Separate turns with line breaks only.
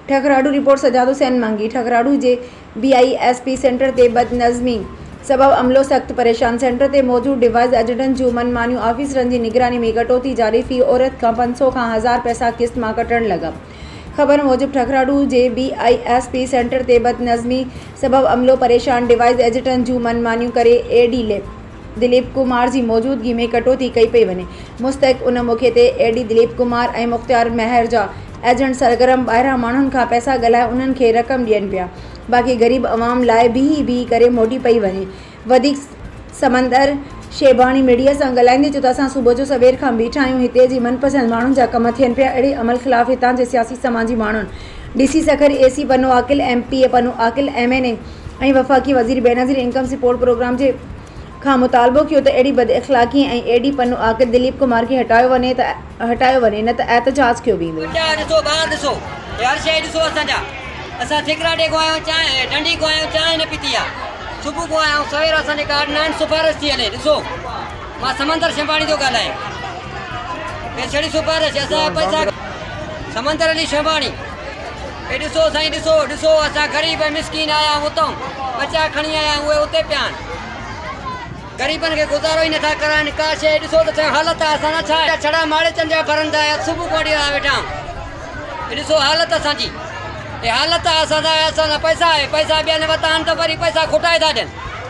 ٺڪراڙو، report Sajjad Hussain Mangi, ٺڪراڙو جي B I S P centre تي بدنظمي سبب عملو سخت پريشان، سينٽر تي موجود ڊوائيز ايجنٽن جون من مانيون، آفيسرن جي نگراني ۾ ڪٽوتي جاري في عورت کان پنج سؤ کان هزار پئسا قسط مان ڪٽڻ لڳا. خبر موجب ٺڪراڙو جي B I S P centre تي بدنظمي سبب عملو پريشان، ڊوائيز ايجنٽن جون من مانيون ڪري اي ڊي ليپ. دليپ ڪمار جي موجودگي ۾ ڪٽوتي ڪئي پئي وڃي. مستحق ان موقعي تي اي ڊي دليپ ڪمار ۽ مختيار مهر جا ايجنٽ سرگرم ٻاهران ماڻهن کان پئسا ڳالهائي انهن کي رقم ڏين پيا باقي غريب عوام لاء بيهي بيهي ڪري موٽي پئي وڃي وڌيڪ سمندر شيباڻي ميڊيا سان ڳالهائيندي چيو ته اسان صبح جو سوير کان بيٺا آهيون هتي جي من پسند ماڻهن جا ڪم ٿين پيا اهڙي عمل خلاف هتان جي سياسي سماجي ماڻهن D C Sukkur A C Pano Aqil M P A Pano Aqil M N A ۽ وفاقي وزير بينظير انڪم سپورٽ پروگرام جي کان مطالبو ڪيو ته اهڙي بداخلاقي ۽ ايڊي پنو آڪر دليپ ڪمار کي هٽايو وڃي نه ته احتجاج ڪيو ويندو.
اي ڏسو سائين ڏسو، ڏسو اسان غريب ۽ مسڪين آيا آهيون اتئون ٻچا کڻي آيا آهيون اهي اتي پيا آهن غريبن کي گذارو ئي نٿا ڪرائين ڪا شيء ڏسو ته سهي حالت آهي اسان سان ڇا اهڙا ڇڙا ماڙيچن جا ڀرندا آهيا صبح کان وٺي آيا ويٺا آهيون اي ڏسو حالت اسان جي اهي حالت آهي اسان سان اهي اسان سان پئسا آهي پئسا ٻيا نه ورتا آهن ته وري پئسا کوٽائي ٿا ڏين.